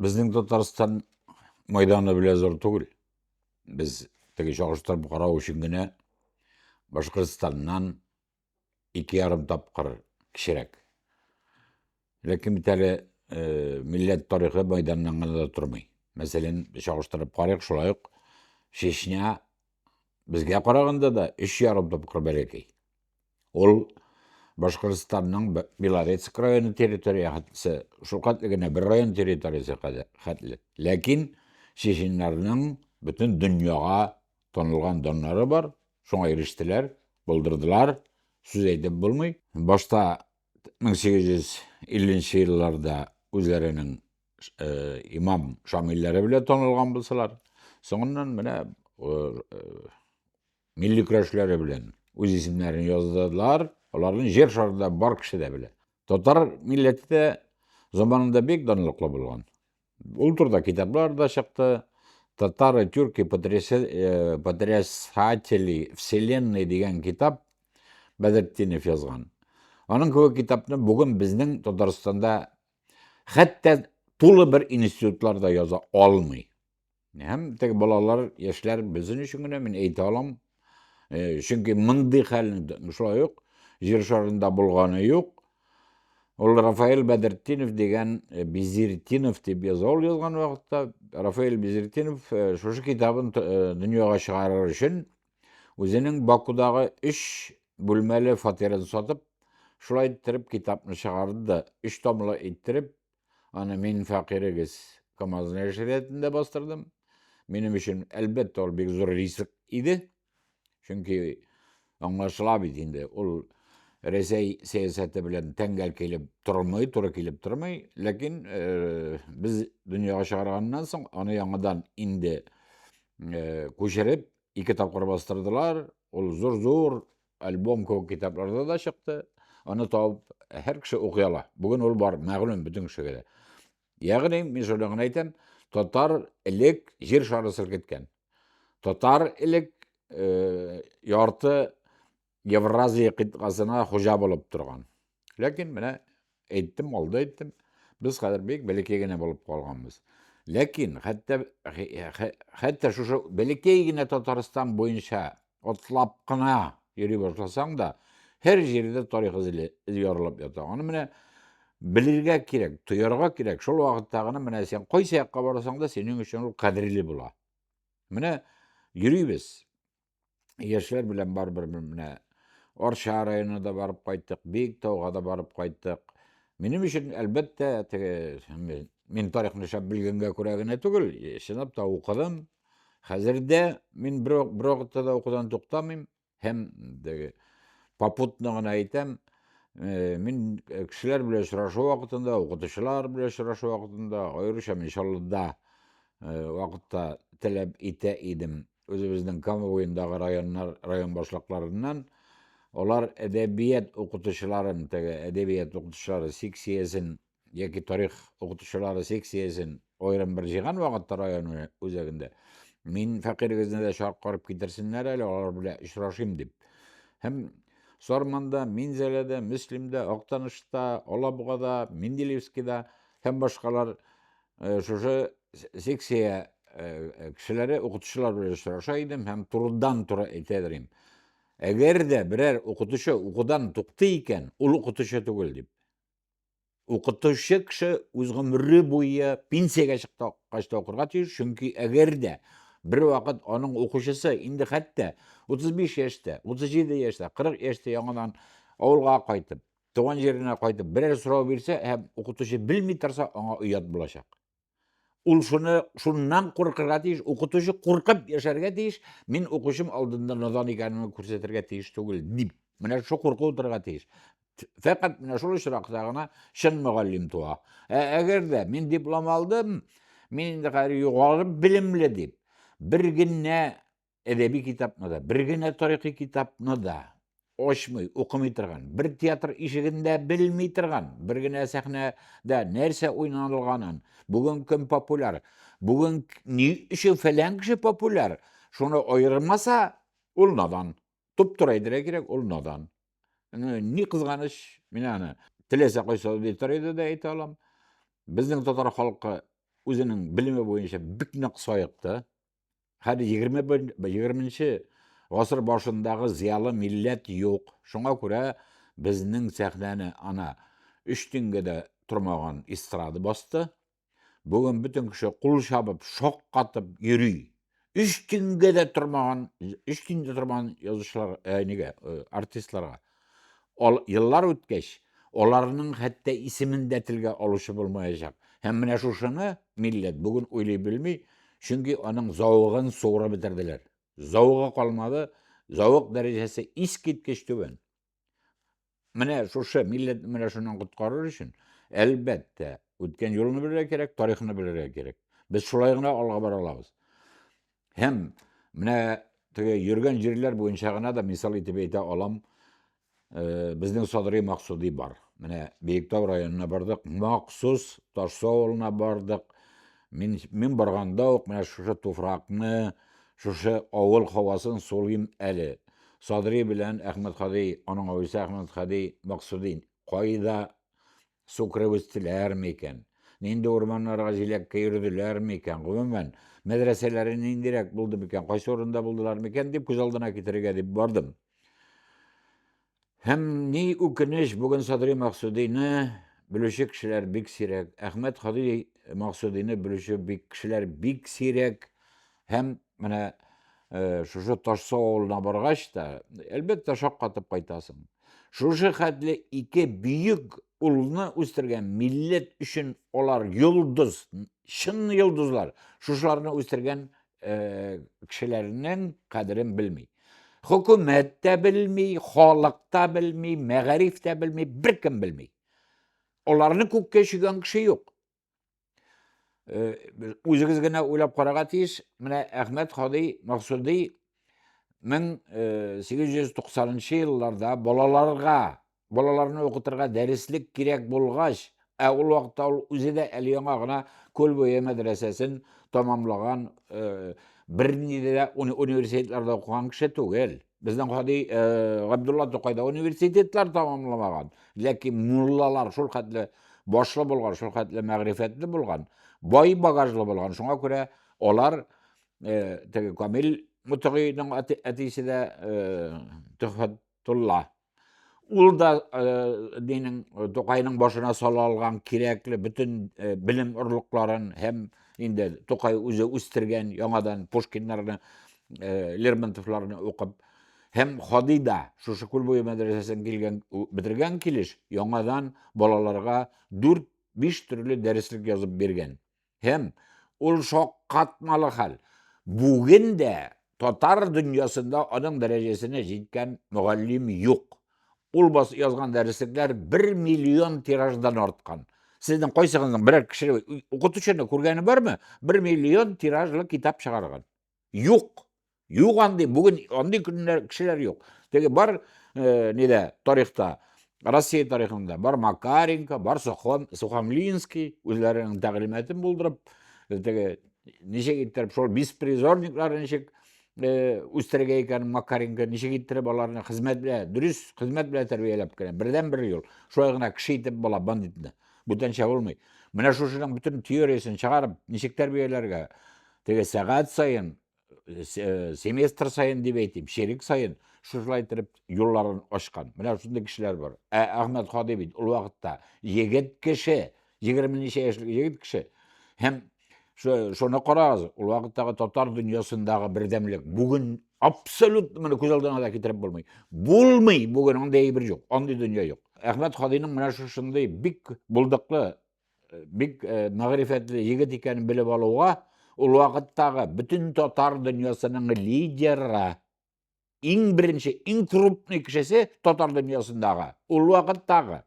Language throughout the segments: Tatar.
Безнең Татарстан майданы белән зур түгел. Без теге чагыштырып карау өчен генә Башкортстаннан ике ярым тапкыр кечерәк. Ләкин бит әле э, милләт тарихы майданнан гына да тормый. Мәсәлән, чагыштырып карыйк, шулай ук Чечня безгә караганда да өч ярым тапкыр бәләкәй. Ул Башкортстанның Белорецк районы территориясе шул хәтле генә бер район территориясе хәтле. Ләкин чеченнарның бөтен дөньяга танылган даннары бар, шуңа ирештеләр, булдырдылар, сүз әйтеп булмый. Башта 1850 елларда үзләренең э, имам шамилләре белән танылган булсалар, соңыннан менә э, Милли көрәшләре белән үз исемнәрен яздылар. Аларны җир шарында бар кеше дә белә. Татар милләте дә заманында бик данлыклы булган. Ул турда китаплар да чыкты. Татары тюрки э, потрясатели вселенной дигән китап Бәдертдинов язган. Аның кебек китапны бүген безнең Татарстанда хәтта тулы бер институтлар да яза алмый. Һәм теге балалар, яшьләр безнең өчен генә мин әйтә алам. Э, чөнки мондый хәлнең шулай ук җир шарында булганы юк. Ул Рафаэль Бәдертдинов дигән э, Безертдинов дип яза ул язган вакытта. Рафаэль Безертдинов э, шушы китабын дөньяга чыгарыр өчен үзенең Бакудагы 3 бүлмәле фатирын сатып, шулай иттереп китапны чыгарды да, 3 томлы иттереп Аны мин фәкыйрегез Камазная ширәтендә бастырдым. Минем өчен, әлбәттә, ул бик зур риск иде. Чөнки аңлашыла бит инде, ул Рәсәй сәясәте белән тәңгәл килеп тормый, туры килеп тормый. Ләкин э, без дөньяга чыгарганнан соң аны яңадан инде э, күчереп ике тапкыр бастырдылар. Ул зур-зур Альбом күп китапларда да чыкты. Аны табып һәр кеше укый ала. Бүген ул бар, мәгълүм бөтен кешегә дә. Ягъни, мин шуны гына әйтәм, татар элек җир шары селкеткән. Татар элек э, ярты Евразия кыйтгасына хуҗа булып торган. Ләкин менә Әйттем, алда әйттем. Без хәзер бик бәләкәй генә булып калганбыз. Ләкин хәтта хәтта шушы бәләкәй генә Татарстан буенча атлап кына йөри башласаң да, һәр җирдә тарих эзе ярылып ята. Аны менә белергә кирәк, тоярга кирәк. Шул вакытта гына менә сен кайсы якка барасаң да, синең өчен ул кадерле була. Менә йөрибез. яшьләр белән барыбер менә Арча районына да барып кайттык, Биектауга да барып кайттык. Минем өчен, әлбәттә, теге мин тарихны шәп белгәнгә күрә генә түгел, чынлап та укыдым. Хәзер дә мин бер вакытта да укудан туктамыйм һәм теге попутно гына әйтәм, э, мин э, кешеләр белән очрашу вакытында, укытучылар белән очрашу вакытында, аеруча мин Чаллыда э, вакытта таләп итә идем. Үзебезнең Кама буендагы районнар, район башлыкларыннан алар әдәбият укытучыларын, теге әдәбият укытучылары секциясен яки тарих укытучылары секциясен аерым бер җыйган вакытта район үзәгендә мин фәкыйрегезне дә чакырып китерсеннәр әле, алар белән очрашыйм дип. Һәм Сарманда, Минзәләдә, Мөслимдә, Актанышта, Алабугада, Менделеевскида һәм башкалар Э, шушы секция э, кешеләре укытучылар белән очраша идем һәм турыдан туры әйтә берим әгәр дә берәр укытучы укудан туктый икән ул укытучы түгел дип укытучы кеше үз гомере буе пенсиягә чыккач та укырга тиеш чөнки әгәр дә бер вакыт аның укучысы инде хәтта 35 яшьтә 37 яшьтә 40 яшьтә яңадан авылга кайтып Туган җиренә кайтып берәр сорау бирсә һәм укытучы белми торса, аңа оят булачак. Ул шуны шуннан куркырга тиеш, укытучы куркып яшәргә тиеш, мин укучым алдында надан икәнемне күрсәтергә тиеш түгел дип. Менә шул курку утырырга тиеш. Фәкать менә шул очракта гына чын мөгаллим туа. Ә әгәр дә мин диплом алдым, мин инде хәзер югары белемле дип, бер генә әдәби китапны да, бер генә тарихи китапны да очмый, укымый торган, бер театр ишегендә белми торган, бер генә сәхнәдә нәрсә уйнанылганын, бүген кем популяр, бүген ни өчен фәлән кеше популяр, шуны аермаса, ул надан. Туп-тур әйтергә кирәк, ул надан. Ни кызганыч, мин аны теләсә кайсы аудиториядә дә әйтә алам. Безнең татар халкы үзенең белеме буенча бик нык саекты. Хәле 21 гасыр башындагы зиялы милләт юк. Шуңа күрә безнең сәхнәне ана өч тингә дә тормаган эстрада басты. Бүген бөтен кеше кул чабып, шаккатып йөри. Өч тингә дә тормаган, өч тингә дә тормаган язучылар, ә, э, нигә, э, артистларга. Ал, еллар үткәч, аларның хәтта исемен дә телгә алучы булмаячак. Һәм менә шушыны милләт бүген уйлый белми, чөнки аның зәвыгын суырып бетерделәр. Зәвыгы калмады, зәвык дәрәҗәсе искиткеч түбән. Менә шушы милләтне менә шуннан коткарыр өчен, әлбәттә, үткән юлны белергә кирәк, тарихны белергә кирәк. Без шулай гына алга бара алабыз. Һәм менә теге йөргән җирләр буенча гына да мисал итеп әйтә алам. Э, безнең Садри Максуди бар. Менә Биектау районына бардык, махсус Ташлы авылына бардык. Мин, мин барганда ук менә шушы туфракны, шушы авыл һавасын сулыйм әле. Садри белән Әхмәт Хади, аның авылчысы Әхмәт Хади Максудин кайда Су кереп үстеләрме икән? Нинди урманнарга җиләккә йөрделәрме икән? Гомумән, мәдрәсәләре ниндирәк булды микән? Кайсы урында булдылар микән дип күз алдына китерергә дип бардым. Һәм ни үкенеч, бүген Садри Максудины белүче кешеләр бик сирәк. Әхмәт Хади Максудины белүче бик кешеләр бик сирәк. Һәм менә э, шушы Ташсу авылына баргач та, әлбәттә, шаккатып кайтасың. Шушы хәтле ике бөек улны үстергән милләт өчен алар йолдыз, чын йолдызлар. Шушыларны үстергән э, кешеләрнең кадерен белми. Хөкүмәт тә белми, халык та белми, мәгариф тә белми, беркем белми. Аларны күккә чөйгән кеше юк. Үзегез генә уйлап карарга тиеш, менә Әхмәт Хади Максуди 1890 елларда балаларга, балаларны укытырга дәреслек кирәк булгач, ә ул вакытта ул үзе дә әле яңа гына Күл буе мәдрәсәсен тамамлаган, бернинди дә университетларда укыган кеше түгел. Безнең гади Габдулла Тукайда университетлар тамамламаган, ләкин муллалар шул хәтле башлы булган, шул хәтле мәгърифәтле булган, бай багажлы булган. Шуңа күрә алар теге Камил Мутыгыйның әтисе дә Төхфәтулла Ул да э, динең э, Тукайның башына сала алган кирәкле бөтен э, белем орлыкларын һәм инде Тукай үзе үстергән яңадан Пушкиннарны, Лермонтовларны укып һәм Хади да шушы күл буе мәдрәсәсен килгән бетергән килеш яңадан балаларга 4-5 төрле дәреслек язып биргән. Һәм ул шаккатмалы хәл. Бүген дә татар дөньясында аның дәрәҗәсенә җиткән мөгаллим юк. Ул бас язган дәреслекләр 1 миллион тираждан арткан. Сезнең кайсыгызның берәр кеше укытучыны күргәне бармы? 1 миллион тиражлы китап чыгарган. Юк. Юк андый, бүген андый көннәр кешеләр юк. Теге бар э, нидә тарихта, Россия тарихында бар Макаренко, бар Сухом, Сухомлинский үзләренең тәгълиматын булдырып, э, теге ничек иттереп шул беспризорниклар ничек э, үстерергә икән Макаренко, ничек иттереп аларны хезмәт белән, дөрес хезмәт белән тәрбияләп кенә. Бердән бер юл. Шулай гына кеше итеп була бандитны. Бүтәнчә булмый. Менә шушының бөтен теориясен чыгарып, ничек тәрбияләргә? Теге сәгать саен семестр сайын дип әйтим, шерик сайын шушылай итеп юлларын ачкан. Менә шундый кешеләр бар. Ә Әхмәт Хади бит ул вакытта егет кеше, 20 ничә яшьлек егет кеше. Һәм шуны карагыз, ул вакыттагы татар дөньясындагы бердәмлек бүген абсолют моны күз алдына да китереп булмый. Булмый бүген андый әйбер юк, андый дөнья юк. Әхмәт Хадиның менә шушындый бик булдыклы Э, бик э, мәгърифәтле егет икәнен белеп алуга ул вакыттагы бөтен татар дөньясының лидеры иң беренче иң крупный кешесе татар дөньясындагы ул вакыттагы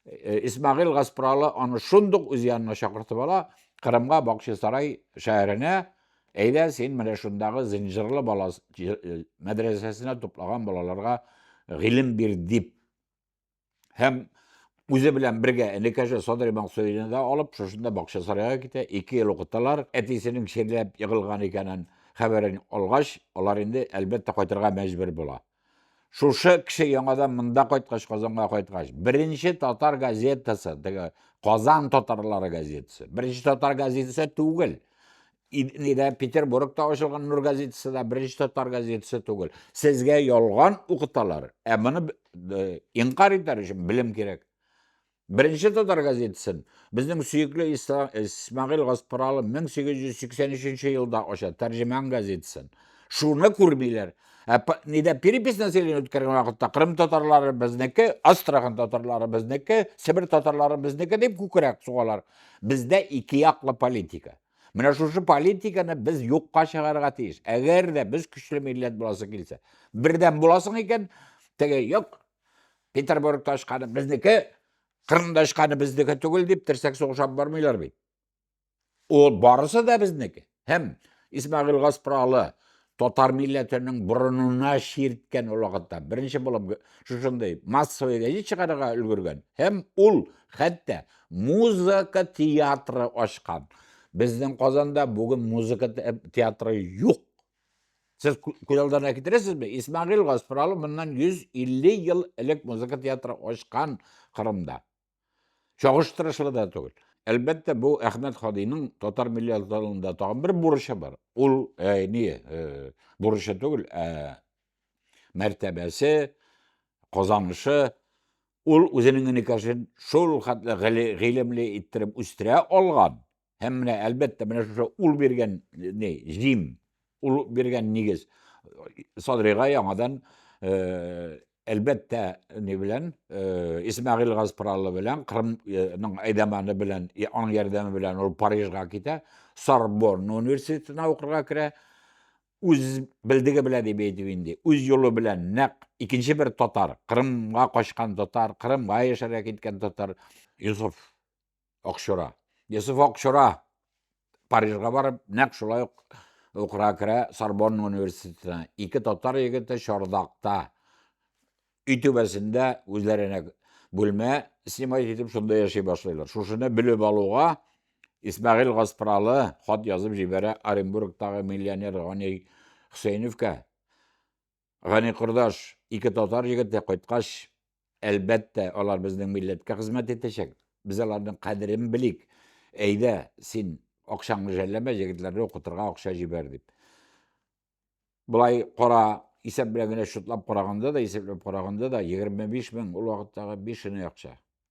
э, исмагил гаспралы аны шундук үз янына чакыртып ала кырымга бакчасарай шәһәренә әйдә син менә шундагы зинҗирлы бала мәдрәсәсенә туплаган балаларга гыйлем бир дип һәм үзе белән бергә энекәше Садри Мансурины да алып, шушында бакча сарайга китә, ике ел укыталар. Әтисенең чирләп егылган икәнен хәбәрен алгач, алар инде әлбәттә кайтырга мәҗбүр була. Шушы кеше яңадан монда кайткач, Казанга кайткач, беренче татар газетасы, теге Казан татарлары газетасы. Беренче татар газетасы түгел. Нидә Петербургта ачылган Нур газетасы да беренче татар газетасы түгел. Сезгә ялган укыталар, ә моны инкар итәр өчен белем кирәк. Беренче татар газетасын безнең сөекле Исмагил Гаспаралы 1883 елда ача, Тәрҗемән газетасын. Шуны күрмиләр. Ә нидә перепись населения үткәргән вакытта Крым татарлары безнеке, Астрахань татарлары безнеке, Себер татарлары безнеке дип күкрәк сугалар. Бездә ике яклы политика. Менә шушы политиканы без юкка чыгарырга тиеш. Әгәр дә без көчле милләт буласы килсә, бердәм буласың икән, теге юк, Петербург ташканы безнеке, Кырым ташканы безнеке түгел дип терсәк сугышап бармыйлар бит. Ул барысы да безнеке. Һәм Исмагил Гаспралы Татар милләтенең борынына чирткән ул вакытта. Беренче булып шушындый массовый гәҗит чыгарырга өлгергән. Һәм ул хәтта музыка театры ачкан. Безнең Казанда бүген музыка театры юк. Сез күз алдына китерәсезме? Исмагил Гаспралов моннан 150 ел элек музыка театры ачкан Кырымда. Чагыштырышлы да түгел. Әлбәттә, бу Әхмәт Хадиның татар милләтләрендә тагын бер бурычы бар. Ул ә, ни, ә, бурычы түгел, ә мәртәбәсе, казанышы, ул үзенең энекәшен шул хәтле гыйлемле иттереп үстерә алган, Һәм менә әлбәттә менә шушы ул биргән ни җим, ул биргән нигез Садрига яңадан э, әлбәттә ни белән э, Исмәгыйль Газпралы белән Кырымның э, әйдәманы белән аның ярдәме белән ул Парижга китә, Сорбонна университетына укырга керә. Үз белдеге белән дип әйтеп инде, үз юлы белән нәкъ икенче бер татар, Кырымга качкан татар, Кырымга яшәргә киткән татар Юсуф Акчура. Йосыф Акчура Парижга барып, нәкъ шулай ук укырга керә Сорбонна университетына. Ике татар егете Чардакта өй түбәсендә үзләренә бүлмә снимать итеп, шунда яши башлыйлар. Шушыны белеп алуга Исмәгыйль Гаспралы хат язып җибәрә Оренбургтагы миллионер Гани Хөсәйновка. Гани кордаш, ике татар егете кайткач, әлбәттә, алар безнең милләткә хезмәт итәчәк. Без аларның кадерен белик. Әйдә, син акчаңны жәлләмә, егетләрне укытырга акча җибәр дип. Болай кара исәп белән генә шутлап караганда да, исәпләп караганда да 25 мең ул вакыттагы бишенә акча.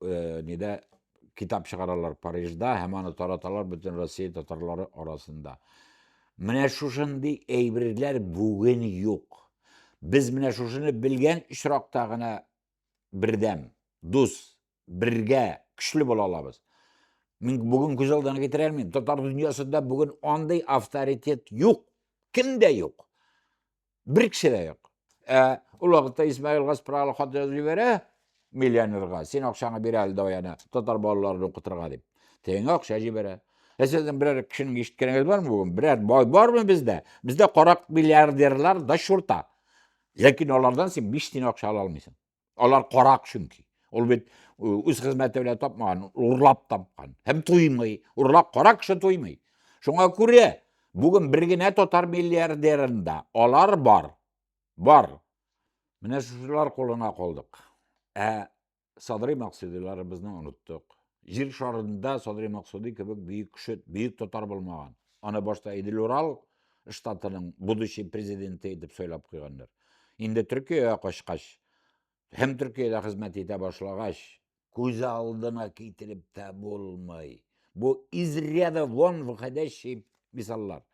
э, нидә китап чыгаралар Парижда һәм аны тараталар бөтен Россия татарлары арасында. Менә шушындый әйберләр бүген юк. Без менә шушыны белгән очракта гына бердәм, дус, бергә, көчле була алабыз. Мин бүген күз алдына китерә алмыйм. Татар дөньясында бүген андый авторитет юк. Кемдә юк? Бер кеше дә юк. Ә ул вакытта Исмаил Гаспралы хат язып җибәрә миллионерга, син акчаңны бир әле даяна, татар балаларын укытырга дип. Тегеңә акча җибәрә. Ә сезнең берәр кешенең ишеткәнегез бармы бүген? Берәр бай бармы бездә? Бездә карак миллиардерлар да шурта. Ләкин алардан син 5 тиен акча ала алмыйсың. Алар карак чөнки. Ул бит үз хезмәте белән тапмаган, урлап тапкан. Һәм туймый. Урлап карак кеше туймый. Шуңа күрә бүген бер генә татар миллиардерында алар бар. Бар. Менә шулар кулына калдык. Ә Садри Максудиларыбызны оныттык. Җир шарында Садри Максуди кебек бөек кеше, бөек татар булмаган. Аны башта Идел Урал штатының будущий президенты итеп сайлап куйганнар. Инде Төркиягә качкач, һәм Төркиядә хезмәт итә башлагач, күз алдына китереп тә булмый. Бу изряда вон выходящий мисаллар.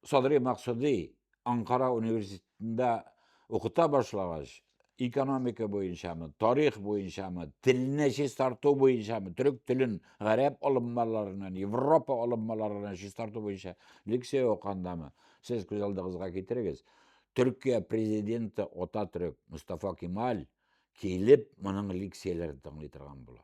Садри Максуди Анкара университетында укыта башлагач, экономика буенчамы, тарих буенчамы, телне чистарту буенчамы, төрек телен гарәп алыммаларыннан, Европа алыммаларыннан чистарту буенча лекция укандамы? Сез күз алдыгызга китерегез. Төркия президенты ата төрек Мустафа Кемаль килеп моның лекцияләрен тыңлый торган була.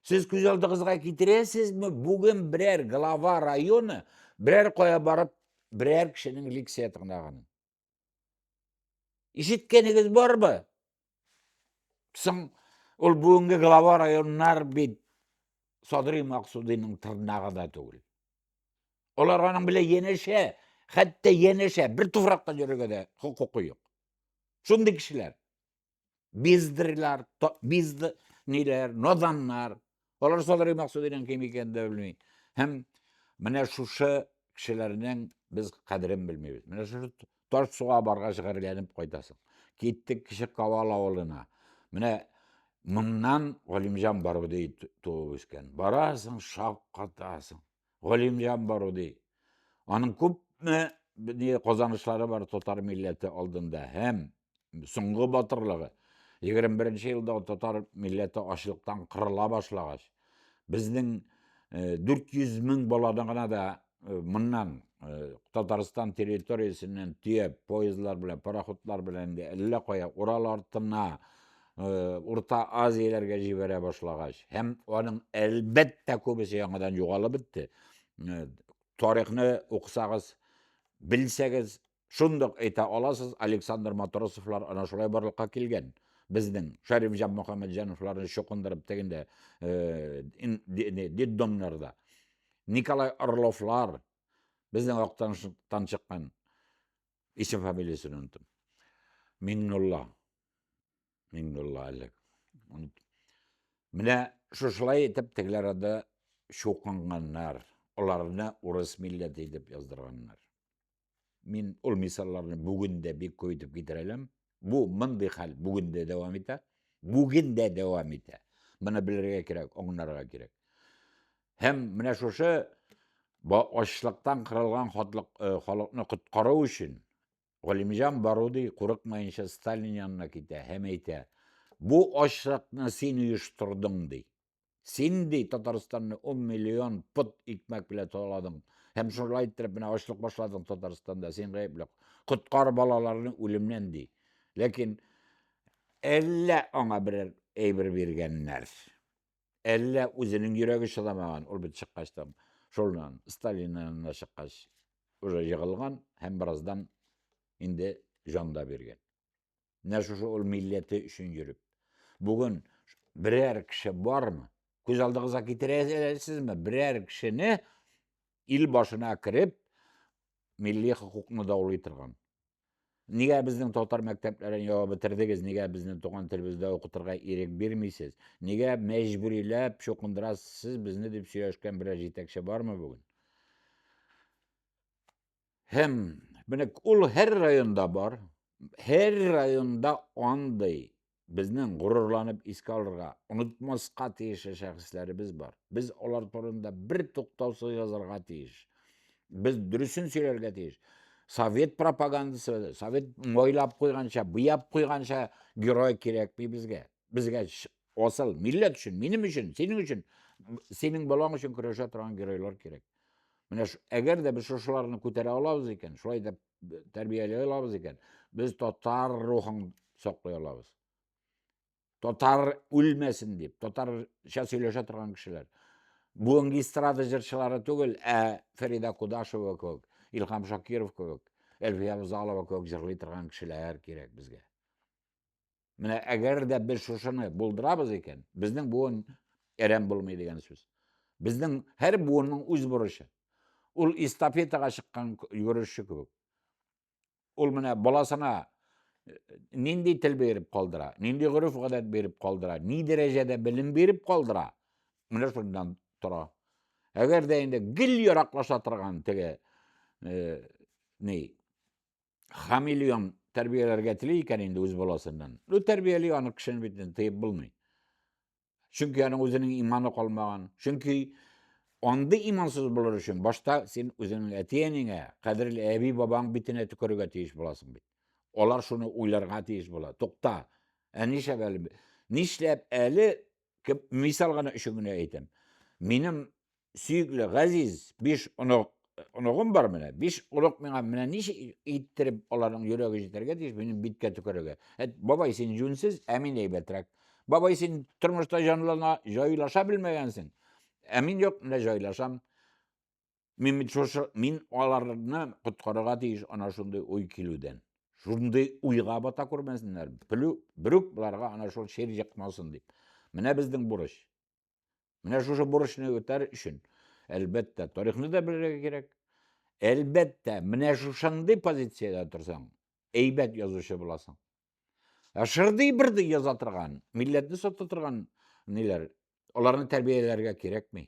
Сез күз алдыгызга китерәсезме, бүген берәр глава районы берәр кая барып, берәр кешенең лекция тыңлаганын? Ишеткәнегез барбы? Соң ул бүгенге глава районнар бит Садри Максудиның тырнагы да түгел. Олар аның белән янәшә, хәтта янәшә, бер туфракта йөрергә дә хокукы юк. Шундый кешеләр. Биздерләр, бизд ниләр, наданнар. Алар Садри Максудинең кем икәнен дә белми. Һәм менә шушы кешеләрнең без кадерен белмибез. Менә шушы таш суга баргач гарьләнеп кайтасың. Киттек кеше Кавал авылына. Менә моннан Галимҗан Баруди туып үскән. Барасың, шаккатасың. Галимҗан Баруди. Аның күпме ни казанышлары бар татар милләте алдында һәм соңгы батырлыгы 21 елда татар милләте ачлыктан кырыла башлагач, безнең 400 э, мең баланы гына да э, моннан э, Татарстан территориясеннән төяп, поездлар белән, пароходлар белән әллә кая Урал артына Урта Азияләргә җибәрә башлагач, һәм аның әлбәттә күбесе яңадан югалып бетте. Тарихны укысагыз, белсәгез, шундук әйтә аласыз, Александр Матросовлар ана шулай барлыкка килгән. Безнең Шәриф Җан Мөхәммәтҗановларны чукындырып тегендә детдомнарда. Николай Орловлар безнең актан чыккан исем фамилиясен оныттым. Миннулла Мин булла әлек. Менә шушылай итеп тегеләр ада шукланганнар, аларны урыс милләте итеп яздырганнар. Мин ул мисалларны бүген дә бик күп итеп китерәләм. Бу мондый хәл бүген дә дәвам итә. Бүген дә дәвам итә. Моны белергә кирәк, аңларга кирәк. Һәм менә шушы ачлыктан кырылган халыкны коткару өчен Галимҗан Баруди курыкмаенча Сталин янына китә һәм әйтә, бу ачлыкны син оештырдың, ди. Син, ди, Татарстанны 10 миллион пот икмәк белән таладың һәм шулай иттереп менә ачлык башладың Татарстанда, син гаепле. Коткар балаларны үлемнән, ди. Ләкин әллә аңа берәр әйбер биргәннәр. Әллә үзенең йөрәге чыдамаган, ул бит чыккач там, шулнан, Сталиннан да чыккач, уже егылган һәм бераздан инде җан да биргән. Менә шушы ул милләте өчен йөреп. Бүген берәр кеше бармы? Күз алдыгызга китерәсезме? Берәр кешене ил башына кереп, милли хокукны даулый торган. Нигә безнең татар мәктәпләрен ябып бетердегез? Нигә безне туган телебездә укытырга ирек бирмисез? Нигә мәҗбүриләп чукындырасыз безне дип сөйләшкән берәр җитәкче бармы бүген? Һәм менә ул һәр районда бар, һәр районда андый безнең горурланып искә алырга, онытмаска тиешле шәхесләребез бар. Без алар турында бер туктаусыз язарга тиеш. Без дөресен сөйләргә тиеш. Совет пропагандасы, совет мойлап куйганча, буяп куйганча герой кирәкми безгә. Безгә асыл милләт өчен, минем өчен, синең өчен, синең балаң өчен көрәшә торган геройлар кирәк. Менә әгәр дә без шушыларны күтәрә алабыз икән, шулай да тәрбияләй алабыз икән, без татар рухын саклый алабыз. Татар үлмәсен дип, татарча сөйләшә торган кешеләр. Бүгенге эстрада җырчылары түгел, ә Фәрида Кудашева кебек, Илхам Шакиров кебек, Әлфия Бузалова кебек җырлый торган кешеләр кирәк безгә. Менә әгәр дә без шушыны булдырабыз икән, безнең буын әрәм булмый дигән сүз. Безнең һәр буынның үз бурычы. Ул эстафетага чыккан йөрүче кебек. Ул менә баласына э, нинди тел биреп калдыра, нинди гореф гадәт биреп калдыра, ни дәрәҗәдә белем биреп калдыра, менә шуннан тора. Әгәр дә инде гел яраклаша торган теге э, ни хамелеон тәрбияләргә тели икән инде үз баласыннан. Ну тәрбияли аны кешене бит тыеп булмый. Чөнки аның үзенең иманы калмаган. Чөнки андый имансыз булыр өчен башта син үзеңнең әти-әниңә, кадерле әби-бабаң битенә төкерергә тиеш буласың бит. Алар шуны уйларга тиеш була. Тукта, ә нишләп әле нишләп әле кеп, мисал гына өчен генә әйтәм. Минем сөекле газиз биш онык оныгым бар менә. Биш онык миңа менә ничек иттереп аларның йөрәге җитәргә тиеш минем биткә төкерергә. Әт, бабай син җүнсез, ә мин әйбәтрәк. Бабай син тормышта җанлана, җайлаша белмәгәнсең. Ә мин юк, менә җайлашам. Мин бит шушы, мин аларны коткарырга тиеш ана шундый уй килүдән. Шундый уйга бата күрмәсеннәр. Плю, брюк буларга ана шул шер җыкмасын дип. Менә безнең бурыч. Менә шушы бурычны үтәр өчен, әлбәттә, тарихны да белергә кирәк. Әлбәттә, менә шушындый позициядә торсаң, әйбәт язучы буласың. Ә шырдый бирдей яза торган, милләтне сата торган ниләр, аларны тәрбияләргә кирәкми.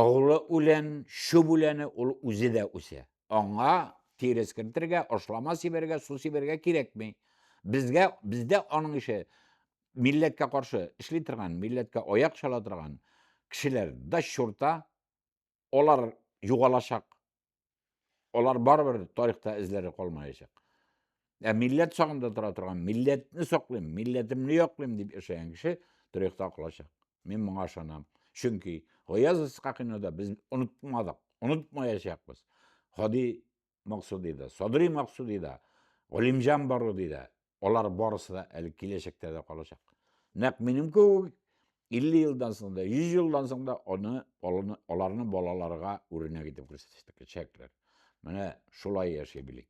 Оглы үлән, чүп үләне, ул үзе дә үсә. Аңа тир эскертергә, ашлама сибәргә, су сибәргә кирәкми. Безгә, бездә аның ише милләткә каршы эшли торган, милләткә аяк чала торган кешеләр да чурта, алар югалачак. Алар барыбер тарихта эзләре калмаячак. Ә милләт сагында тора торган, милләтне саклыйм, милләтемне яклыйм дип яшәгән кеше тарихта калачак. Мин моңа ышанам. Чөнки Гаяз Исхакыйны да без онытмадык, онытмаячакбыз. Хади Максуди да, Садри Максуди да, Галимҗан Баруди да, Алар барысы да әле киләчәктә дә калачак. Нәк минем кебек 50 елдан соң да, 100 елдан соң да аны аларны балаларга үрнәк итеп күрсәтәчәкләр. Менә шулай яши белик.